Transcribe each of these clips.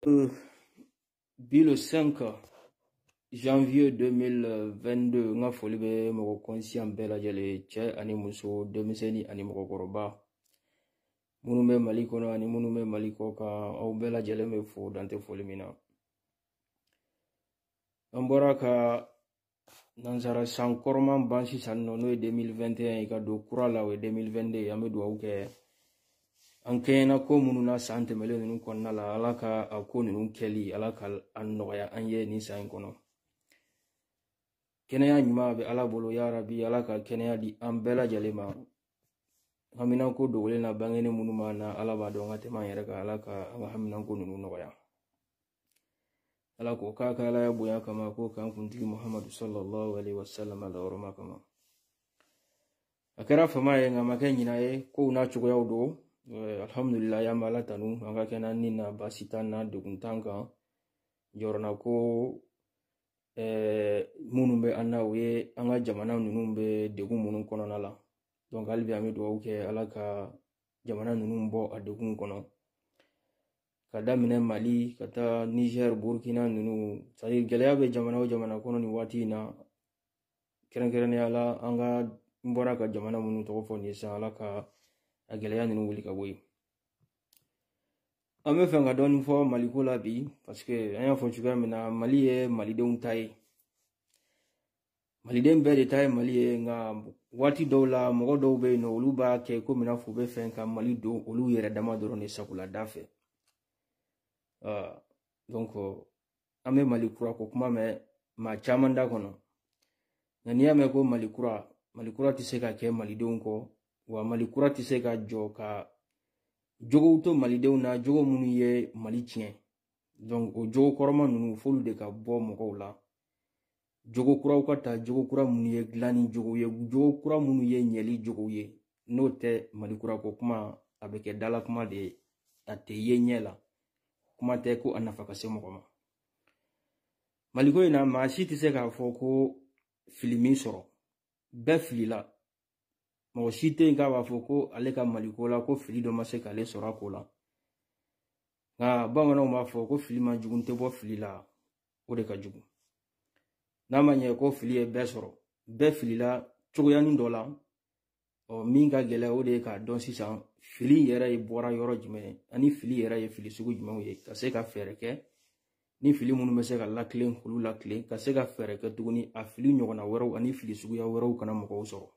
Euh, bi le 5 janvier 2022 n ka foli bɛ mɔgɔ kɔnsiyan bɛɛ lajɛlen cɛ ani muso denmisɛnnin ani mɔgɔkɔrɔba minnu bɛ mali kɔnɔ ani minnu bɛ mali kɔ kan aw bɛɛ lajɛlen bɛ fo dan tɛ foli min na an bɔra ka nansara san kɔrɔman ban sisan nɔ n'o ye 2021 ye ka don kura la o ye 2022 an bɛ dugawu kɛ an kɛɲɛna ko minnu na san tɛmɛlen ninnu kɔnɔna la ala ka a ko ninnu kɛli ala ka a nɔgɔya an ye nin san in kɔnɔ kɛnɛya ɲuman bɛ ala bolo yarabi ala ka kɛnɛya di an bɛɛ lajɛlen ma haminanko dogolen n'a bangelen minnu b'an na ala b'a dɔn ka tɛmɛ an yɛrɛ kan ala ka an ka haminanko ninnu nɔgɔya ala k'o k'a ka alaya bonya kama k'o k'an kuntigi muhamadu sallallahu alaihi wasallam a la hɔrɔma kama a kɛra fama ye nk'a ma kɛ ɲina ye kow n'a cogoyaw don alhamdulilayi an b'ala tanu an ka kɛnɛ ni na baasi t'an na degun t'an kan jɔrɔnanko minnu bɛ an na o ye an ka jamana ninnu bɛ degun minnu kɔnɔna la donc hali bi an bɛ dugawu kɛ ala ka jamana ninnu bɔ a degun kɔnɔ ka daminɛ mali ka taa niger burkina ninnu cadi gɛlɛya bɛ jamana o jamana kɔnɔ nin waati in na kɛrɛnkɛrɛnnenya la an ka n bɔra ka jamana minnu tɔgɔ fɔ nin sisan ala ka a gɛlɛya ninnu wuli ka bɔ yen an bɛ fɛ ka dɔɔni fɔ maliko la bi parce que an y'a fɔ cogoya min na mali ye malidenw ta ye maliden bɛɛ de ta ye mali ye nka waati dɔw la mɔgɔ dɔw bɛ yen nɔ olu b'a kɛ komi n'a f'u bɛ fɛ ka mali don olu yɛrɛ dama dɔrɔn de sagolada fɛ ah, donc an bɛ mali kura ko kuma mɛn maa caman da kɔnɔ nka n'i y'a mɛn ko mali kura mali kura tɛ se ka kɛ malidenw kɔ wa mali kura tɛ se ka jɔ ka jogow to malidenw na jogo minnu ye mali tiɲɛ donc o jogo kɔrɔma ninnu f'olu de ka bɔ mɔgɔw la jogo kuraw ka ta jogo kura minnu ye dilanni jogo ye jogo kura minnu ye ɲɛli jogow ye n'o tɛ mali kura ko kuma a bɛ kɛ dalakuma de ye a tɛ ye ɲɛ la kuma tɛ ko a nafa ka se mɔgɔ ma maliko in na maa si tɛ se k'a fɔ ko fili m'i sɔrɔ bɛɛ filila mɔgɔ si tɛ yen k'a b'a fɔ ko ale ka maliko la ko fili dɔ ma se k'ale sɔrɔ a ko la nka bamananw b'a fɔ ko fili man jugu tɛ bɔ fili la o de ka jugu n'a ma ɲɛ ko fili ye bɛɛ sɔrɔ bɛɛ filila cogoyanin dɔ la ɔ min ka gɛlɛn o de ye k'a dɔn sisan fili yɛrɛ ye bɔra yɔrɔ jumɛn ani fili yɛrɛ ye fili sugu jumɛnw ye ka se ka fɛɛrɛ kɛ ni fili minnu bɛ se ka latilen k'olu latilen ka se ka fɛɛrɛ kɛ tuguni a fili ɲɔgɔnna wɛrɛw ani fili suguya wɛrɛw kana mɔgɔw sɔrɔ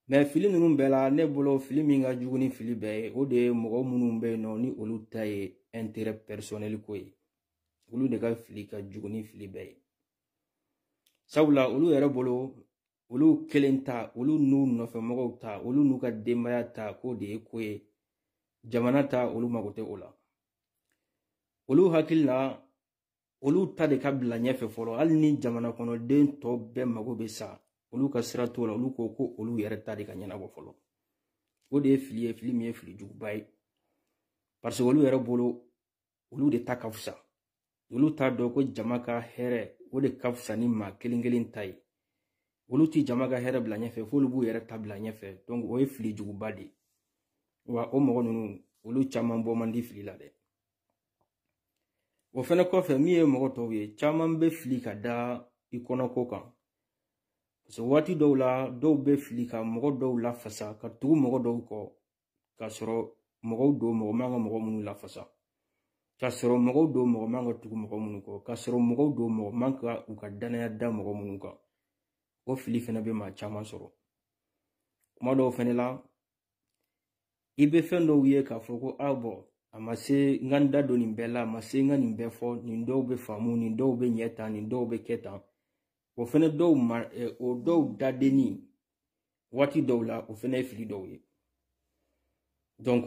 mais fili ninnu bɛɛ la ne bolo fili min ka jugu ni fili bɛɛ ye o de ye mɔgɔ minnu bɛ yen nɔ ni olu ta ye intérêt personnel ko ye olu de ka fili ka jugu ni fili bɛɛ ye sabula olu yɛrɛ bolo olu kelen ta olu n'u nɔfɛ mɔgɔw ta olu n'u ka denbaya ta k'o de ye ko ye jamana ta olu mago tɛ o la olu hakili la olu ta de ka bila ɲɛfɛ fɔlɔ hali ni jamana kɔnɔden tɔ bɛɛ mago bɛ sa olu ka sira t'o la olu ko ko olu yɛrɛ ta de ka ɲɛnabɔ fɔlɔ o de ye fili ye fili min ye fili juguba ye parce que olu yɛrɛ bolo olu de ta ka fisa olu t'a dɔn ko jama ka hɛrɛ o de ka fisa ni maa kelen kelen ta ye olu ti jama ka hɛrɛ bila ɲɛfɛ f'olu b'u yɛrɛ ta bila ɲɛfɛ donc o ye fili juguba de ye wa o mɔgɔ ninnu olu caman bɔ man di fili la dɛ o fɛnɛ kɔfɛ min ye mɔgɔ tɔw ye caman bɛ fili ka da i kɔnɔko kan parce waati dɔw la dɔw bɛ fili ka mɔgɔ dɔw lafasa ka tugu mɔgɔ dɔw kɔ k'a sɔrɔ mɔgɔw don mɔgɔ man ka mɔgɔ minnu lafasa k'a sɔrɔ mɔgɔw don mɔgɔ man ka tugu mɔgɔ minnu kɔ k'a sɔrɔ mɔgɔw don mɔgɔ man ka u ka danaya da mɔgɔ minnu kan o fili fɛnɛ bɛ maa caman sɔrɔ kuma dɔw fɛnɛ la i bɛ fɛn dɔw ye k'a fɔ ko a ah, bon a ma se n ka n da don nin bɛɛ la a ma se n ka nin bɛɛ fɔ nin dɔw bɛ faamu nin dɔw bɛ ɲɛ tan nin dɔw bɛ kɛ tan o fɛnɛ dɔw ma eh, o dɔw dadenni waati dɔw la o fɛnɛ ye fili dɔw ye donc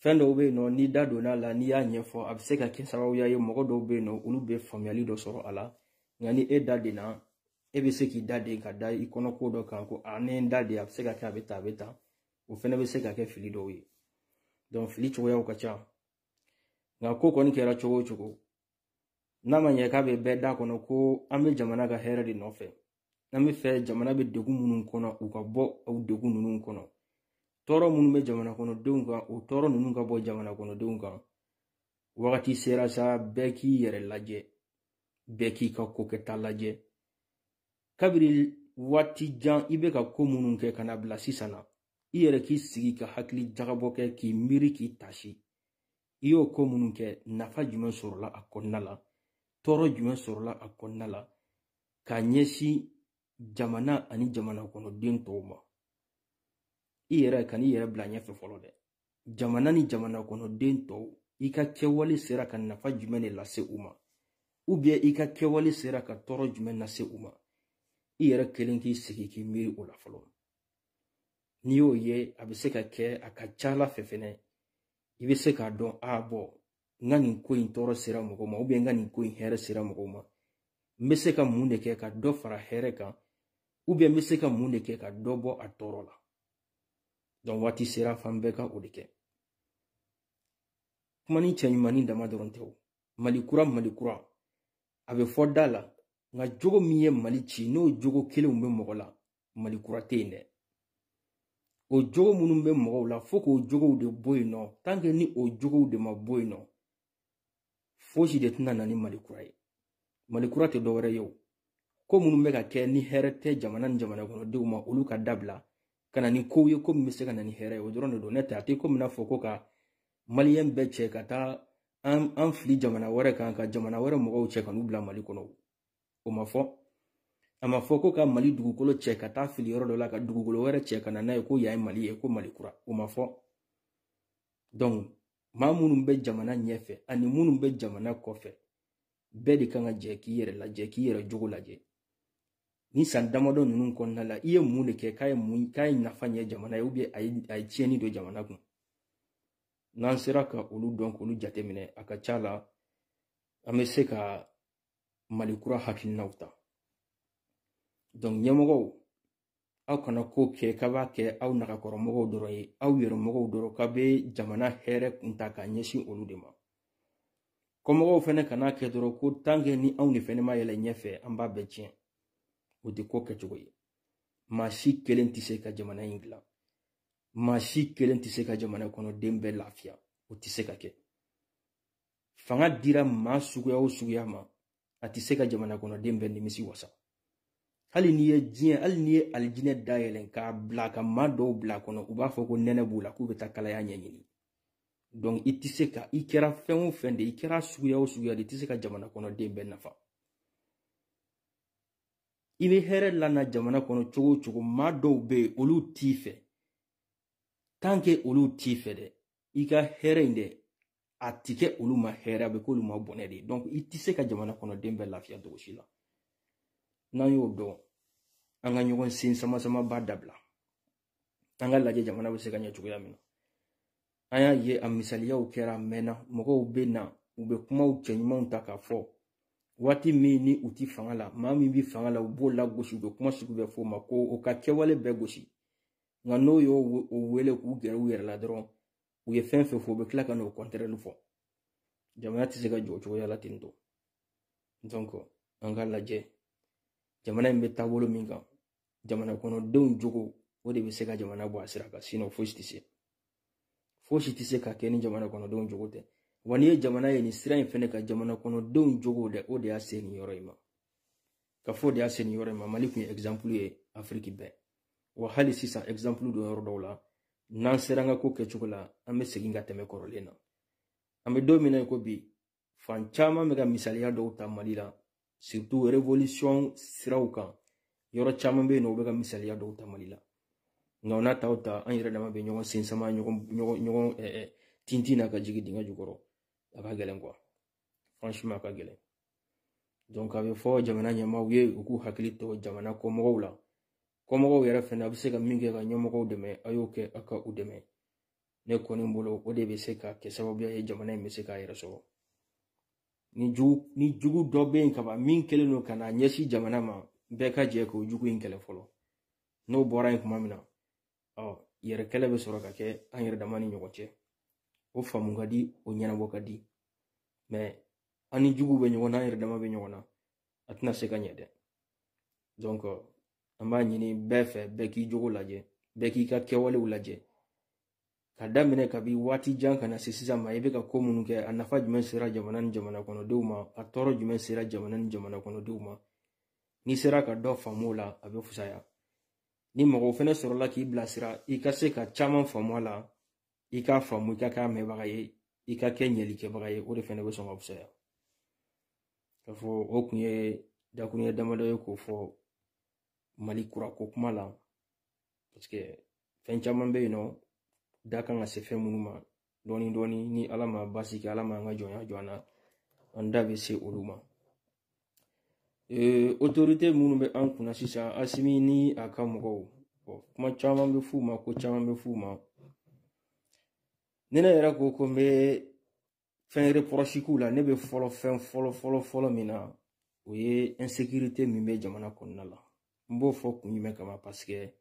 fɛn dɔw bɛ yen nɔ n'i da donna a la n'i y'a ɲɛfɔ a bɛ se ka kɛ sababuya ye mɔgɔ dɔw bɛ yen nɔ olu bɛ faamuyali dɔ sɔrɔ a la nka ni e da denna e bɛ se k'i da de ka da i kɔnɔ ko dɔ kan ko a ne n da de a bɛ se ka kɛ a bɛ ta a bɛ ta o fɛnɛ bɛ se ka kɛ fili dɔw ye donc fili cogoyaw ka ca nka ko kɔni kɛra cogo o cogo n'a ma ɲɛ k'a bɛ bɛɛ da kɔnɔ ko an bɛ jamana ka hɛrɛ de nɔfɛ n'an b'a fɛ jamana bɛ degun minnu kɔnɔ u ka bɔ o degun ninnu kɔnɔ tɔɔrɔ minnu bɛ jamana kɔnɔdenw kan o tɔɔrɔ ninnu ka bɔ jamana kɔnɔdenw kan wagati sera sa bɛɛ k'i yɛrɛ lajɛ bɛɛ k'i ka ko kɛta lajɛ kabiri waati jan i bɛ ka ko minnu kɛ ka na bila sisan na i yɛrɛ k'i sigi ka hakili jagabɔ kɛ k'i miiri k'i tasi i y'o ko minnu kɛ nafa jumɛn sɔrɔla a kɔnɔna la tɔɔrɔ jumɛn sɔrɔla a kɔnɔna la ka ɲɛsin jamana ani jamana kɔnɔden tɔw ma i yɛrɛ kan'i yɛrɛ bila ɲɛfɛ fɔlɔ dɛ jamana ni jamana kɔnɔ den tɔw i ka kɛwale sera ka nafa jumɛn de lase u ma ubiyɛn i ka kɛwale sera ka tɔɔrɔ jumɛn lase u ma i yɛrɛ kelen k'i sigi k'i miiri o la fɔlɔ n'i y'o ye a bɛ se ka kɛ a ka ca la fɛ fɛnɛ i bɛ se k'a dɔn ah bon n ka nin ko in tɔɔrɔ sera mɔgɔ ma ubiyɛn n ka nin ko in hɛrɛ sera mɔgɔw ma n bɛ se ka mun de kɛ ka dɔ fara hɛrɛ kan ubiyɛn n bɛ se ka mun de kɛ ka dɔ bɔ a tɔɔrɔ la donc waati sera f'an bɛɛ ka o de kɛ kumanin cɛɲumannin dama dɔrɔn tɛ o mali kura mali kura a bɛ fɔ da la nka jogo min ye mali ci n'o jogo kelenw bɛ mɔgɔ la mali kura tɛ yen dɛ o jogo minnu bɛ mɔgɔw la fo k'o jogow de bɔ yen nɔ tanke ni o jogow de ma bɔ yen nɔ fosi de tɛna na ni mali kura ye mali kura tɛ dɔwɛrɛ ye o ko minnu bɛ ka kɛ ni hɛrɛ tɛ jamana ni jamana kɔnɔdenw ma olu ka dabila ka na ni kow ye ko min bɛ se ka na ni hɛrɛ ye o dɔrɔn de don n'o tɛ a tɛ komi n'a fɔ ko ka maliyɛn bɛɛ cɛ ka taa an an fili jamana wɛrɛ kan ka jamana wɛrɛ mɔgɔw cɛ ka n'u bila mali kɔnɔ o ma fɔ a ma fɔ ko ka mali dugukolo cɛ ka taa fili yɔrɔ dɔ la ka dugukolo wɛrɛ cɛ ka na n'a ye ko yan ye mali ye ko mali kura o ma fɔ donc maa minnu bɛ jamana ɲɛfɛ ani minnu bɛ jamana kɔfɛ bɛɛ de kan ka jɛ k'i yɛrɛ lajɛ k'i yɛrɛ jogo lajɛ nin san damadɔ ninnu kɔnɔna la i ye mun de kɛ k'a ye mun k'a ye nafa ɲɛ jamana ye ubiyɛn a ye a ye tiɲɛni don jamana kun n'an sera ka olu dɔn k'olu jateminɛ a ka ca la an bɛ se ka mali kura hakilinaw ta donc ɲɛmɔgɔw aw kana ko kɛ k'aw b'a kɛ aw nagakɔrɔmɔgɔw dɔrɔn ye aw yɛrɛmɔgɔw dɔrɔn k'aw bɛ jamana hɛrɛ kun ta ka ɲɛsin olu de ma kɔmɔgɔw fana kan'a kɛ dɔrɔn ko tankɛ ni anw de fana ma yɛlɛ ɲɛfɛ an b'a bɛɛ tiɲɛ o tɛ ko kɛcogo ye maa si kelen tɛ se ka jamana in dilan maa si kelen tɛ se ka jamana kɔnɔden bɛɛ lafiya o tɛ se ka kɛ fanga dira maa suguya o suguya ma a tɛ se ka jamana kɔnɔden bɛɛ nimisi wasa hali n'i ye diɲɛ hali n'i ye alijinɛ dayɛlɛn k'a bila ka maa dɔw bil'a kɔnɔ u b'a fɔ ko nɛnɛ b'u la k'u bɛ taa kalaya ɲɛɲini donc i tɛ se ka i kɛra fɛn o fɛn de i kɛra suguya o suguya de i tɛ se ka jamana kɔnɔden bɛɛ nafa i bɛ hɛrɛ lana jamana kɔnɔ cogo o cogo maa dɔw bɛ yen olu t'i fɛ tant que olu t'i fɛ dɛ i ka hɛrɛ in dɛ a ti kɛ olu ma hɛrɛ a bɛ k'olu ma bɔnɛ de ye donc i tɛ se ka jamana kɔnɔ den bɛɛ lafiya cogo si la n'an y'o dɔn an ka ɲɔgɔn sen sama sama ba dabila an ka lajɛ jamana bɛ se ka ɲɛ cogoya min na an y'a ye a misaliyaw kɛra a mɛnna mɔgɔw bɛ na u bɛ kumaw cɛɲumanw ta k'a fɔ waati min ni u ti fanga la maa min bɛ fanga la u b'o lagosi u bɛ kuma sugu bɛɛ fɔ o ma k'o ka kɛwale bɛɛ gosi nka n'o y'o wele k'u gɛrɛ u yɛrɛ la dɔrɔn u ye fɛn o fɛn fɔ u bɛ tila ka n'o kɔntɛrɛli fɔ jamana tɛ se ka jɔ o cogoya la ten tɔ donc an ka lajɛ jamana in bɛ taabolo min kan jamana kɔnɔdenw jogo o de bɛ se ka jamana bɔ a sira kan sinon fosi tɛ se fosi tɛ se ka kɛ ni jamana kɔnɔdenw jogo tɛ wa n'i ye jamana ye nin sira in fɛnɛ kan jamana kɔnɔdenw jogo de o de y'a se nin yɔrɔ in ma k'a fɔ o de y'a se nin yɔrɔ in ma mali tun ye exemple ye afiriki bɛɛ wa hali sisan exemple don yɔrɔ dɔw la n'an sera an ka ko kɛcogo la an bɛ segin ka tɛmɛ kɔrɔlen na an bɛ don min na i ko bi fan caman bɛ ka misaliya dɔw ta mali la surtout révolution siraw kan yɔrɔ caman bɛ yen nɔ u bɛ ka misaliya dɔw ta mali la nka o n'a ta o ta an yɛrɛ dama bɛ ɲɔgɔn sensama ɲɔgɔn ɲɔgɔn ɲɔgɔn tintin na ka jigin dingɛ jukɔrɔ a ka gɛlɛn quoi franchement a ka gɛlɛn donc a bɛ fɔ jamana ɲɛmaaw ye u k'u hakili to jamana kɔmɔgɔw la kɔmɔgɔw yɛrɛ fɛnɛ a bɛ se ka min kɛ ka ɲɛmɔgɔw dɛmɛ a y'o kɛ a ka u dɛmɛ ne kɔni bolo o de bɛ se ka kɛ sababuya ye jamana in bɛ se k'a yɛrɛ sɔrɔ ni jugu ni jugu dɔ bɛ yen kaban min kɛlen don ka na ɲɛsin jamana ma bɛɛ ka jɛ k'o jugu in kɛlɛ fɔlɔ n'o bɔra yen tuma min na o yɛrɛ kɛlɛ bɛ sɔrɔ ka kɛ an yɛrɛ dama ni ɲɔgɔn cɛ o faamu ka di o ɲɛnabɔ ka di mais an ni juguw bɛ ɲɔgɔn na an yɛrɛ dama bɛ ɲɔgɔn na a tɛna se ka ɲɛ dɛ donc an b'a ɲini bɛɛ fɛ bɛɛ k'i jogo lajɛ bɛɛ k'i ka kɛwalew lajɛ ka daminɛ kabi waati jan ka na se sisan ma i bɛ ka ko minnu kɛ a nafa jumɛn sera jamana ni jamana kɔnɔdenw ma a tɔɔrɔ jumɛn sera jamana ni jamana kɔnɔdenw ma n'i sera ka dɔ faamu o la a bɛ fusaya ni mɔgɔw fana sɔrɔla k'i bilasira i ka se ka caman faamu a la i k'a faamu i ka k'a mɛnbaga ye i ka kɛ yeli kɛbaga ye o de fɛnɛ bɛ sɔn ka fisaya k'a fɔ o kun ye dakuruɲɛ damadɔ ye k'o fɔ mali kura ko kuma la parce que fɛn caman bɛ yen an da kan ka se fɛn minnu ma dɔɔni dɔɔni ni ala ma basi kɛ ala ma an ka jɔnya jɔ an na an da bɛ se olu ma Ee otorite minnu bɛ an kunna sisan asimi ni a ka mɔgɔw kuma caman bɛ f'u ma ko caman bɛ f'u ma ni ne yɛrɛ ko ko n bɛ fɛn reproche k'u la ne bɛ fɔlɔ fɛn fɔlɔ fɔlɔ fɔlɔ min na o ye insekirite min bɛ jamana kɔnɔna la n b'o fɔ kun jumɛn kama paseke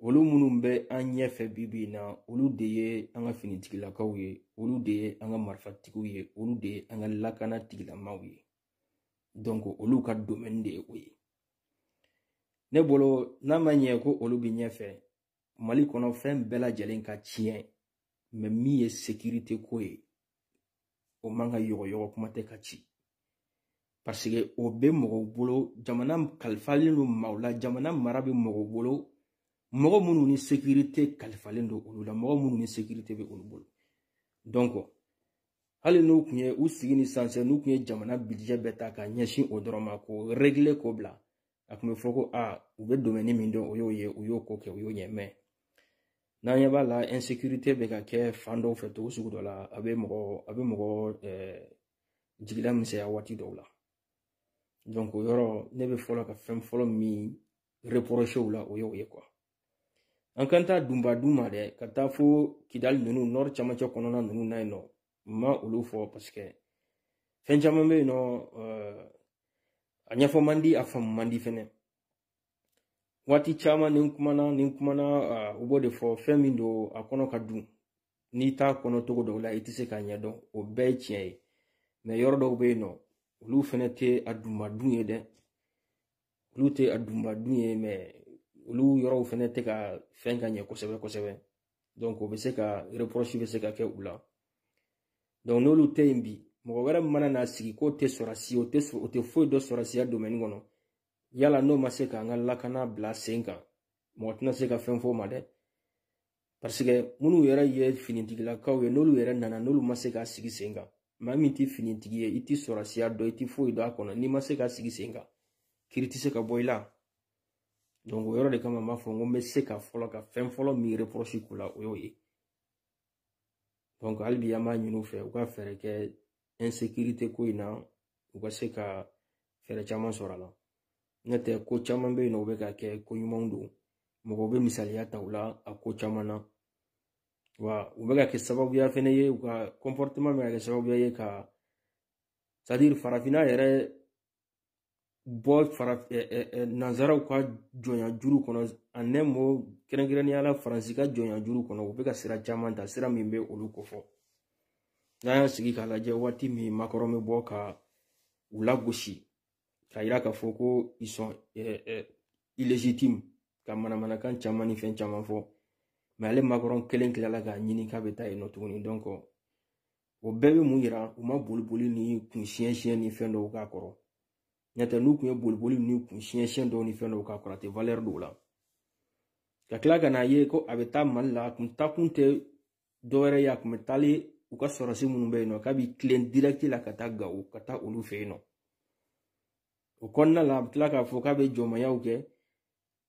olu minnu bɛ an ɲɛfɛ bi bi in na olu de ye an ka finitigilakaw ye olu de ye an ka marifatigiw ye olu de ye an ka lakana tigilamaw ye donc olu ka domaine de ye o ye ne bolo n'a ma ɲɛ ko olu bɛ ɲɛfɛ mali kɔnɔ fɛn bɛɛ lajɛlen ka tiɲɛ mais min ye sekirite ko ye o man ka yɔgɔyɔgɔ kuma tɛ ka ci paseke o bɛ mɔgɔw bolo jamana kalifalen don maaw la jamana mara bɛ mɔgɔw bolo mɔgɔ minnu ni sekirite kalifalen don olu la mɔgɔ minnu ni sekirite bɛ olu bolo donc hali n'u tun ye u sigi ni sansɛ n'u tun ye jamana budget bɛɛ ta ka ɲɛsin o dɔrɔn ma k'o régler k'o bila a tun bɛ fɔ ko aa u bɛ domɛni min dɔn o y'o ye u y'o ko kɛ u y'o ɲɛ mɛ n'an ɲɛ b'a la insécurité bɛ ka kɛ fan dɔw fɛ cogo sugu dɔ la a bɛ mɔgɔ a bɛ mɔgɔ jigila misɛnya waati dɔw la donc o yɔrɔ ne bɛ fɔlɔ ka fɛn fɔlɔ min reproché u la o y'o ye quoi an kana taa dunba dun ma dɛ ka taa fo kidali ninnu nɔri camancɛ kɔnɔna ninnu na yen nɔ n ma olu fɔ parce que fɛn caman bɛ yen nɔ euh, a ɲɛfɔ man di a faamu man di fɛnɛ waati caman ni n kumana ni n kumana euh, u b'o de fɔ fɛn min don a kɔnɔ ka dun n'i t'a kɔnɔ cogo dɔw la i tɛ se k'a ɲɛdɔn o bɛɛ ye tiɲɛ ye mɛ yɔrɔ dɔw bɛ yen nɔ olu fɛnɛ tɛ a dunba dun ye dɛ olu tɛ a dunba dun ye mɛ olu yɔrɔw fɛnɛ tɛ ka fɛn ka ɲɛ kosɛbɛ kosɛbɛ donc o bɛ se ka reproche bɛ se ka kɛ u la donc n'olu tɛ yen bi mɔgɔ wɛrɛ mana na sigi k'o tɛ sɔrɔsi o tɛ o tɛ foyi dɔn sɔrɔsiya domaine kɔnɔ yala n'o ma se k'an ka lakana bila sen kan mɔgɔ tɛna se ka fɛn fɔ o ma dɛ parce que minnu yɛrɛ ye finitigilakaw ye n'olu yɛrɛ nana n'olu ma se k'a sigi sen kan maa min tɛ finitigi ye i tɛ sɔrɔsiya dɔn i tɛ foyi dɔn a kɔnɔ n'i ma se k'a sigi sen kan kiri tɛ se ka bɔ i la donc o yɔrɔ de kama n b'a fɔ n ko n bɛ se ka fɔlɔ ka fɛn fɔlɔ min reproche k'u la o y'o ye donc hali bi an b'a ɲini u fɛ u ka fɛɛrɛ kɛ insécurité ko in na u ka se ka fɛɛrɛ caman sɔrɔ a la n'o tɛ ko caman bɛ yen nɔ u bɛ ka kɛ ko ɲumanw don mɔgɔw bɛ misaliya ta u la a ko caman na wa u bɛ ka kɛ sababuya fana ye u ka comportement bɛ ka kɛ sababuya ye ka c'est à dire farafinna yɛrɛ bɔ fara nanzaraw ka jɔnya juru kɔnɔ en un mot kɛrɛnkɛrɛnnenya la faransi ka jɔnya juru kɔnɔ u bɛ ka sira caman ta sira min bɛ olu kofɔ n'an y'a sigi k'a lajɛ waati min makɔrɔn bɛ bɔ ka u lagosi k'a yira k'a fɔ ko ils sont illégitimes ka manamanakan caman ni fɛn caman fɔ mɛ ale makɔrɔn kelen tilala k'a ɲini k'a bɛ taa yen nɔ tuguni donc o bɛɛ bɛ mun yira u ma boli boli ni kun siɲɛ siɲɛ ni fɛn dɔw k'a kɔrɔ n'o tɛ n'u kun ye boli boli ni kun siɲɛ siɲɛ dɔw ni fɛn dɔw k'a kɔrɔ a tɛ valɛri don o la ka tila ka n'a ye ko a bɛ taa mali la a kun taakun tɛ dɔwɛrɛ ye a kun bɛ taali u ka sɔrɔsi minnu bɛ yen nɔ k'a bɛ tilen dirɛkiti la ka taa gawo ka taa olu fɛ yen nɔ o kɔnɔna la a bɛ tila k'a fɔ k'a bɛ jɔnmayaw kɛ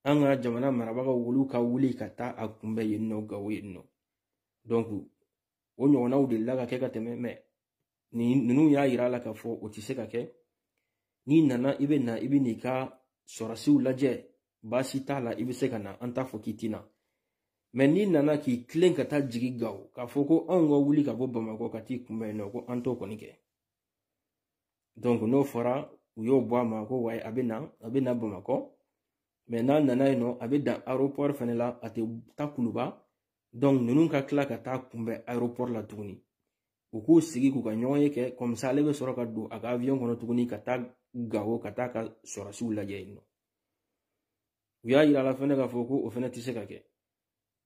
an ka jamana marabagaw olu ka wuli ka taa a kunbɛn yen nɔ gawo yen nɔ o ɲɔgɔnnaw delila ka kɛ ka tɛmɛ mɛ nin ninnu y'a yira a la k'a fɔ o tɛ se ka kɛ n'i nana i bɛ na i bɛ n'i ka sɔrɔdasiw lajɛ baasi t'a la i bɛ se ka na an t'a fɔ k'i tɛna mɛ n'i nana k'i tilen ka taa jigi gawo k'a fɔ ko anw ka wuli ka bɔ bamakɔ ka t'i kunbɛn nɔ ko an t'o kɔni kɛ donc n'o fɔra u y'o bɔ a ma ko ayi a bɛ na a bɛ na bamakɔ mɛ n'a nana yen nɔ a bɛ dan aéroport fana la a tɛ taa kuluba donc ninnu ka tila ka taa a kunbɛn aéroport la tuguni u k'u sigi k'u ka ɲɔgɔn ye kɛ comme ça ale bɛ sɔrɔ ka don a ka avion kɔnɔ tuguni ka taa gawo ka taa a ka sɔrɔdasiw lajɛ yen nɔ u y'a yira la fɛnɛ k'a fɔ ko o fɛnɛ tɛ se ka kɛ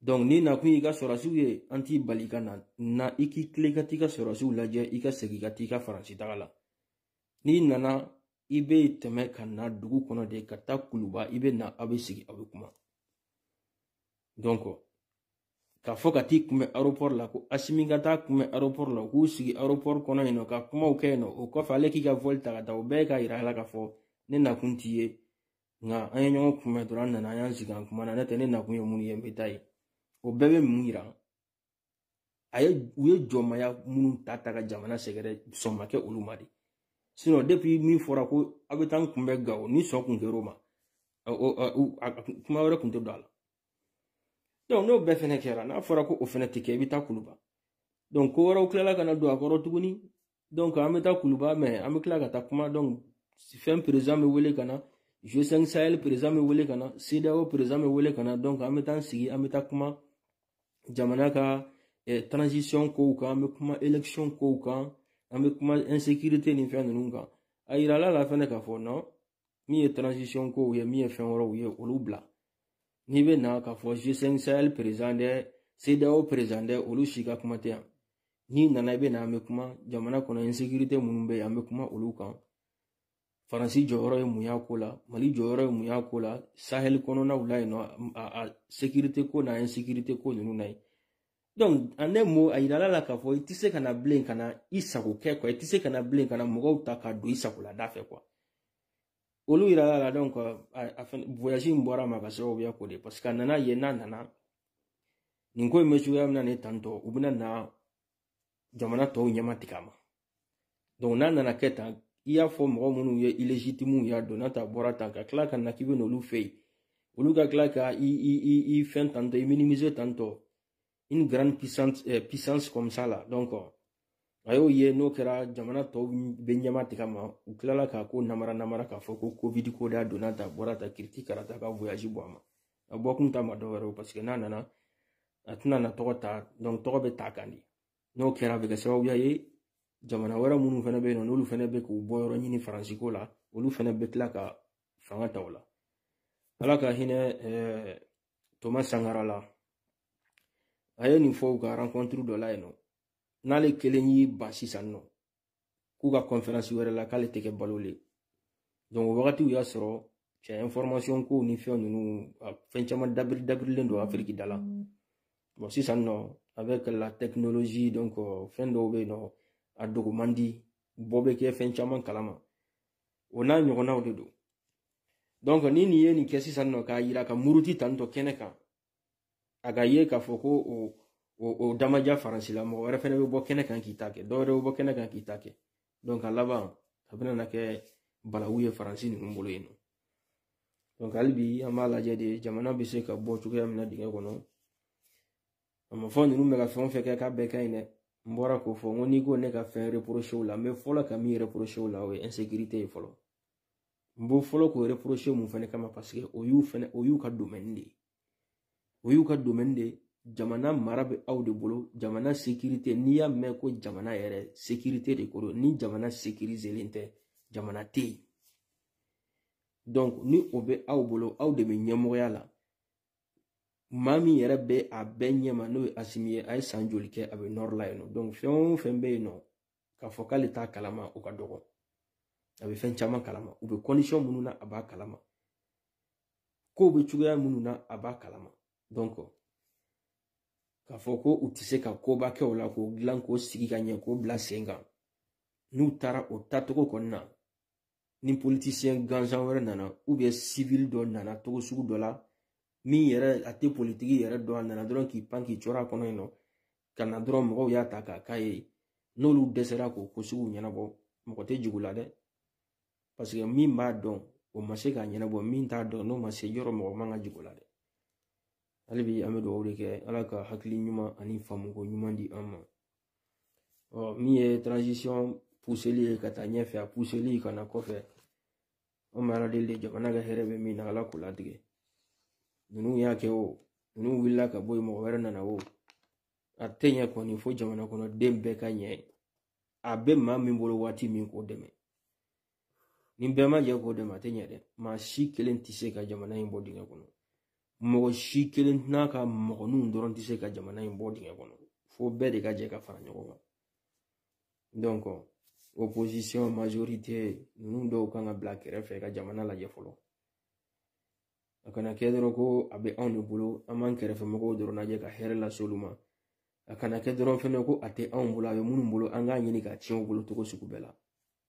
donc n'i nakun y'i ka sɔrɔdasiw ye an t'i bali ka na na i k'i tilen ka t'i ka sɔrɔdasiw lajɛ i ka segin ka t'i ka faransi taga la n'i nana i bɛ tɛmɛ ka na dugu kɔnɔ de ka taa kuluba i bɛ na aw bɛ sigi aw bɛ kuma donc k'a fɔ ka t'i kunbɛn aéroport la ko asimi ka taa a kunbɛn aéroport la u k'u sigi aéroport kɔnɔ yen nɔ ka kumaw kɛ yen nɔ o kɔfɛ ale k'i ka vol ta ka taa o bɛɛ ye k'a yira a la k'a fɔ ne nakun t'i ye nka an ye ɲɔgɔn kunbɛn dɔrɔn an nana an y'an sigi an kumana n'o tɛ ne nakun ye mun ye n bɛ taa yen o bɛɛ bɛ mun yira a ye u ye jɔnmaya minnu ta ta ka jamana sɛgɛrɛ sɔn ma kɛ olu ma de sinon depuis min fɔra ko aw bɛ taa n kunbɛn gawo ni sɔn kun kɛra o ma kuma wɛrɛ kun tɛ don a la donc n'o bɛɛ fɛnɛ kɛra n'a fɔra ko o fɛnɛ tɛ kɛ i bɛ taa kuluba donc ko wɛrɛw tilala ka na don a kɔrɔ tuguni donc an bɛ taa kuluba mɛ an bɛ tila ka taa kuma donc fɛn président bɛ wele ka na g5 sahel président bɛ wele ka na cedeao président bɛ wele ka na donc an bɛ taa sigi an bɛ taa kuma jamana ka eh, transition kow kan an bɛ kuma élection kow kan an bɛ kuma insécurité ni fɛn ninnu kan a yirala la fɛnɛ k'a fɔ non min ye transition kow ye min ye fɛn wɛrɛw ye olu bila n'i bɛ na k'a fɔ g5 sahel président dɛ cedeao président dɛ olu si ka kuma tɛ yan n'i nana i bɛ na an bɛ kuma jamana kɔnɔ insekirite minnu bɛ yen an bɛ kuma olu kan faransi jɔyɔrɔ ye mun y'a ko la mali jɔyɔrɔ ye mun y'a ko la sahɛli kɔnɔnaw la yen nɔ a sekirite ko n'a insekirite ko ninnu na yen donc en un mot a yirala la k'a fɔ i tɛ se ka na bilen ka na i sago kɛ quoi i tɛ se ka na bilen ka na mɔgɔw ta ka don i sagola da fɛ quoi olu yirala la donc a fɛn voyage in bɔra a ma ka sababuya k'o de parce que a nana yen n'a nana nin ko in bɛ cogoya min na nin tantɔ u bɛna na jamana tɔw ɲɛma tigɛ a ma donc n'a nana kɛ tan i y'a fɔ mɔgɔ minnu ye illégitimew y'a don n'a ta bɔra tan ka tila ka na k'i bɛ n'olu fɛ yen olu ka tila ka i i i i fɛn tantɔ i minimiser tantɔ une grande puissance eh, puissance comme ça là donc a y'o ye n'o kɛra jamana tɔw bɛ ɲɛma tigɛ a ma u tilala k'a ko namara namara k'a fɔ ko covid ko da donna tan bɔra tan kiriti karata ka voyage bɔ a ma a bɔ kun ta ma dɔ wɛrɛ o paseke n'a nana a tɛna na tɔgɔ ta tɔgɔ bɛ ta kan de n'o kɛra a bɛ kɛ sababuya ye jamana wɛrɛ minnu fana bɛ yen nɔ n'olu fana bɛ k'u bɔ yɔrɔ ɲini faransi ko la olu fana bɛ tila ka fanga ta o la ala ka hinɛ eh, toma sankara la a ye nin fɔ u ka rencontre dɔ la yen nɔ n'ale kelen y'i ban sisan nɔ k'u ka kɔnferansi wɛrɛ la k'ale tɛ kɛ balo le donc o wagati o y'a sɔrɔ cɛ information kow ni fɛn ninnu fɛn caman dabiri dabirilen don afiriki da la bon sisan nɔ avec la technologie donc euh, fɛn dɔw bɛ yen nɔ a dogo man di bɛɛ bɛ kɛ fɛn caman kalama o n'a ɲɔgɔnnaw de don donc ni nin ye nin kɛ sisan nɔ k'a yira ka muruti tantɔ kɛnɛ kan a ka ye k'a fɔ ko o o o damajira faransi la mɔgɔ wɛrɛ fɛnɛ bɛ bɔ kɛnɛ kan k'i ta kɛ dɔwɛrɛ bɛ bɔ kɛnɛ kan k'i ta kɛ donc a laban a bɛna na kɛ balawu ye faransi ninnu bolo yen nɔ donc hali bi an b'a lajɛ de jamana bɛ se ka bɔ cogoya min na dingɛ kɔnɔ a ma fɔ ninnu bɛ ka fɛn o fɛn kɛ k'a bɛɛ ka ɲi dɛ n bɔra k'o fɔ n ko n'i ko ne ka fɛn reproche o la n bɛ fɔlɔ ka min reproche o la o ye insécurité ye fɔlɔ n b'o fɔlɔ k'o reproche mun fɛnɛ kama parce que o y'u fɛnɛ o y'u ka domaine de ye o y'u ka domaine de ye jamana mara bɛ aw de bolo jamana sécurité n'i y'a mɛn ko jamana yɛrɛ sécurité de ko don ni jamana sécuriselen tɛ jamana tɛ yen donc ni o bɛ aw bolo aw de bɛ ɲɛmɔgɔya la maa min yɛrɛ bɛ a bɛɛ ɲɛma n'o ye asimi ye a ye san joli kɛ a bɛ nord la yen nɔ donc fɛn o fɛn bɛ yen nɔ k'a fɔ k'ale t'a kalama o ka dɔgɔ a bɛ fɛn caman kalama u bɛ kɔndisɔn minnu na a b'a kalama kow bɛ cogoya minnu na a b'a kalama dɔnko k'a fɔ ko u tɛ se ka koba kɛ o la k'o dilan k'o sigi ka ɲɛ k'o bila sen kan n'u taara o taacogo kɔni na ni politisiyɛn gansan wɛrɛ nana ubiyɛn sivili dɔ nana cogo sugu dɔ la min yɛrɛ a tɛ politiki yɛrɛ dɔn a nana dɔrɔn k'i pan k'i cɔrɔ a kɔnɔ yen nɔ ka na dɔrɔn mɔgɔw y'a ta k'a k'a ye n'olu dɛsɛra k'o ko sugu ɲɛnabɔ mɔgɔ tɛ jigi u la dɛ paseke min b'a dɔn o ma se k'a ɲɛnabɔ min t'a dɔn n'o ma se yɔrɔ mɔgɔ man ka jigi o la dɛ hali bi an bɛ dugawu de kɛ ala ka hakili ɲuman ani faamuko ɲuman di an ma ɔ min ye transition puseli ye ka taa ɲɛfɛ a puseli ka na kɔfɛ an bɛ ala deli de jamana ka hɛrɛ bɛ min na ala k'o latigɛ ninnu y'a kɛ o ninnu wulila ka bɔ yen mɔgɔ wɛrɛ nana o a tɛ ɲɛ kɔni fo jamana kɔnɔ den bɛɛ ka jɛ a bɛ maa min bolo waati min k'o dɛmɛ ni bɛɛ ma jɛ k'o dɛmɛ a tɛ ɲɛ dɛ maa si kelen tɛ se ka jamana in bɔ dingɛ kɔnɔ mɔgɔ si kelen n'a ka mɔgɔninw dɔrɔn tɛ se ka jamana in bɔ dingɛ kɔnɔ fo bɛɛ de ka jɛ ka fara ɲɔgɔn kan donc opposition majorité ninnu dɔw kan ka bila kɛrɛfɛ ka jamana lajɛ fɔlɔ a kana kɛ dɔrɔn ko a bɛ anw de bolo an b'an kɛrɛfɛ mɔgɔw dɔrɔn lajɛ ka hɛrɛ lase olu ma a kana kɛ dɔrɔn fɛnɛ ko a tɛ anw bolo a bɛ minnu bolo an k'a ɲini k'a tiɲɛ u bolo cogo sugu bɛɛ la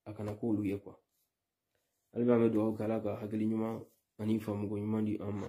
a kana k'olu ye quoi hali b'an bɛ dugawu kɛ ala ka hakili ɲuman ani faamuko ɲuman di an ma